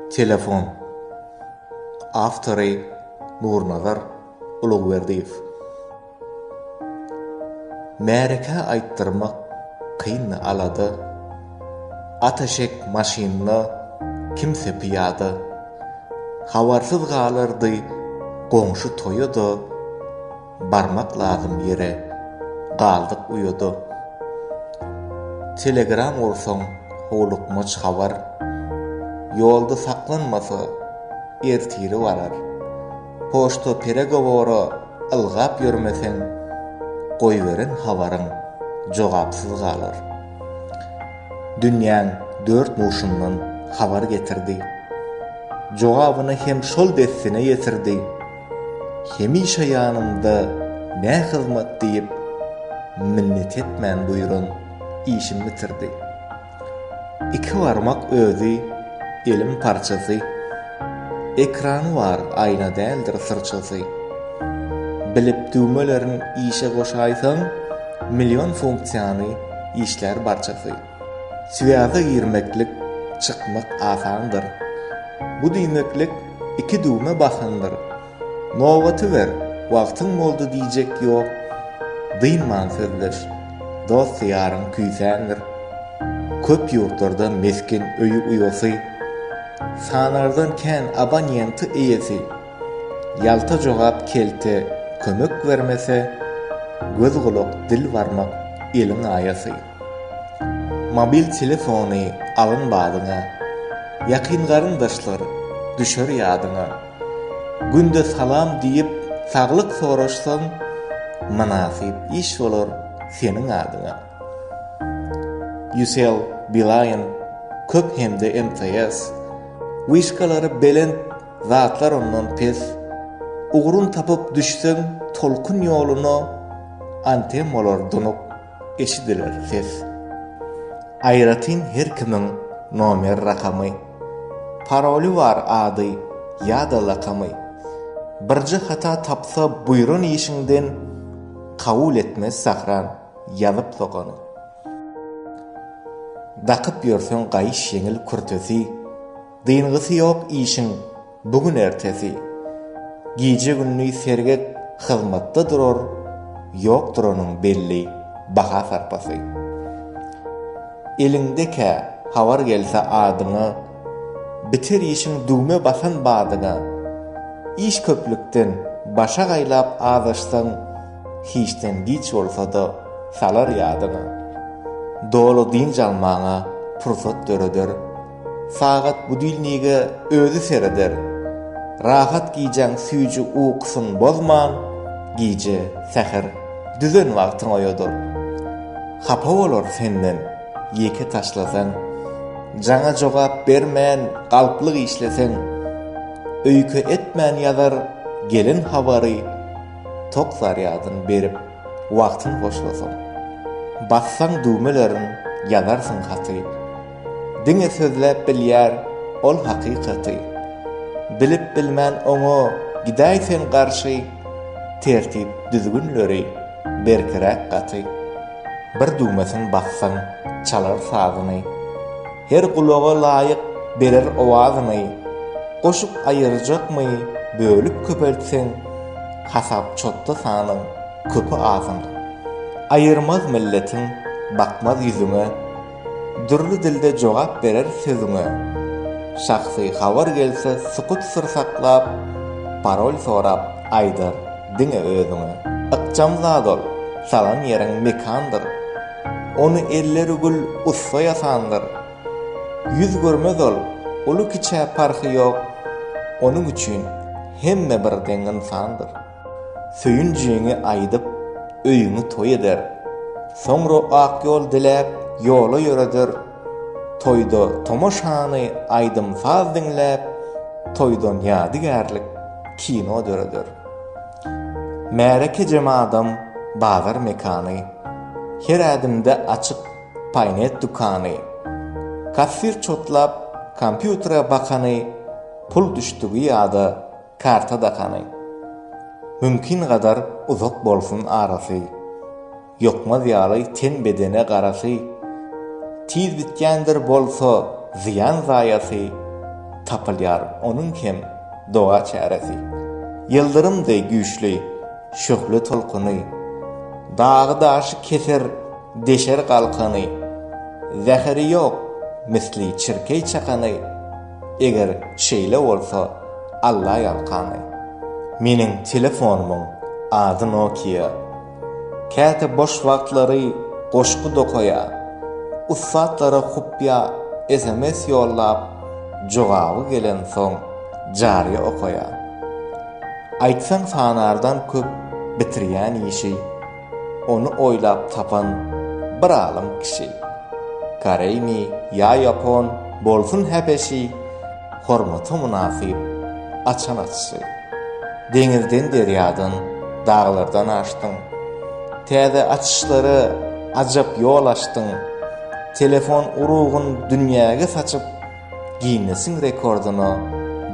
Telefon. Awtory, Nurnazar Ulugberdiýew. Märeke aýtdyrmak kyn alada, Ataşek maşynda, kimse pyýada. Habarsyz galardy goňşy toýa-da, Barmak lazym ýere galdyk uýada Telegram ursaň howlukmaç habar Ýolda saklanmasa ertiri barar Poçta peregowora ylgap ýörmeseň Goýberen habaryň jogapsyz galar Dünýäň dört burçundan habar getirdi Jogabyny hem şol dessine ýetirdi Hemişe ýanymda nä hyzmat diýip, minnet etmän buýran işimi bitirdi. Iki barmak özi elim parçasy, ekrany bar aýna däldir syrçasy. Bilip düwmelerin işe goşaýsaň, million funksiýany işlär barçasy. Swýaza girmeklik, çykmak asandyr. Bu diýmeklik iki düwme basandyr. Nobaty ber, wagtyň boldy diýjek ýok. Dynman sözleş. Dost-ýaryň küýsändir. Köp ýurtlarda mesgen öýi uýasy, sanardan kän abonýenti eýesi. Ýalta jogap kelte kömek bermese, göz-gulak dil barmak eliň aýasy. Mobil telefony alyn badyňa, Ýakyn garyndaşlar düşer ýadyňa. Günde salam diýip saglyk soraşsaň, Mynasyp iş bolar seniň adyňa. Ucell, Beeline, köp hem-de MTS, Wişkalary belent, zatlar ondan pes. Ugrun tapyp düşseň tolkun ýoluna, Antem bolar dunuk. Eşidiler ses. Aýratyn her kimiň nomer rakamy, paroly bar ady ýa-da lakamy. Birje hata tapsa buýran işiňden kabul etmez Sahran ýazyp sogany. Dakyp ýörseň gaýyş ýeňil kürtesi, dyngysyýok işiň Bu gün ertesi. Gije-gündiz sergek hyzmatda durar, ýokdur onuň belli baha-sarpasy. Eliňde kä habar gelse adyňa, biter işiň düwme basan badyňa. Iş köplükden başa gaýlap azaşsaň, hiçden giç bolsa-da salar ýadyňa. Doly dynç almaňa pursat döreder. Sagat budilnige özi sereder. Rahat gijäň süýji ukysyň bozman, gije, säher, düzen wagtyň oýadyr. Hapa bolar senden, ýeke taşlasaň. Jaňa jogap bermän galplyk işleseň. Öýke etmän ýazar gelen habary, tok zarýadyn berip, wagtyn hoşlasaň. Bassaň düwmelerin, ýazarsyň haty. Diňe sözläp bilýär ol hakykaty. Bilip bilmän oňa gidäý sen garşy, Tertip düzgünleri berkiräk gaty. Bir düwmesin bassaň çalar sazyny, Her gulaga laýyk berer owazyny. Goşup aýyrjakmy bölüp köpeltseň, Hasap-çotda sanyň köpi-azyny. Aýyrmaz milletiň bakmaz ýüzüňe. Dürli dilde jogap berer sözüňe. Şahsy habar gelse sukut syr saklap, parol sorap aýdar diňe özüňe. Ykjam zat ol, salan ýeriň mekandyr, ony elleri gül ussa ýasandyr. Ýüz görmez ol, uly-kiçä parhy ýok, onuň üçin hemme birdeň ynsandyr. Söýünjiňi aýdyp, öýüňi toý eder. Soňra ak ýol diläp, ýola ýöreder. Toýda tomaşany aýdym-saz diňläp, toýdan ýadygärlik kino döreder. Märeke jemadam bazar mekany. Her ädimde açyk paýnet dükany. Kassir çotlap, kompýutere bakany, pul düşdügi ýada. Karta dakany. Mümkin gadar uzak bolsun arasy, Ýokmaz ýaly ten-bedene garasy. Tiz bitýändir bolsa zyýan-zaýasy, Tapylýar onuň hem doga çäresi. Ýyldyrym deý güýçli şöhle tolkuny, Dagy-daşy keser, deşer galkany. Zäheri ýok misli çirkeý çakany. Eger şeýle bolsa, allaýalkany. Meniň telefonymyň ady Nokia. Käte boş wagtlary goşgy dokaýa, ussatlara kupýa sms ýollap, jogaby gelensoň jaryýa okaýa. Aýtsaň sanardan köp bitirýän işi. Ony oýlap tapan bir alym kişi, koreými ýa ýapon, bolsun häbeşi, hormata mynasyp açan açyşy. Deňizden derýadan, daglardan aşdyň. Täze açyşlara ajap ýol açdyň. Telefon urugyn dünýäge saçyp, Ginnesiň rekordyna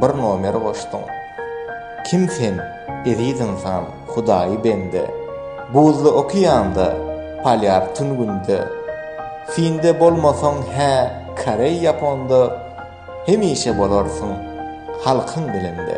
bir nomer goşdyň. Kim sen, eziz ynsan, hudaýy bende? Buzly okeanda, polýar tün günde, Finde bolmasaň hä, koreý-ýaponda, Hemişe bolarsyň halkyň dilinde.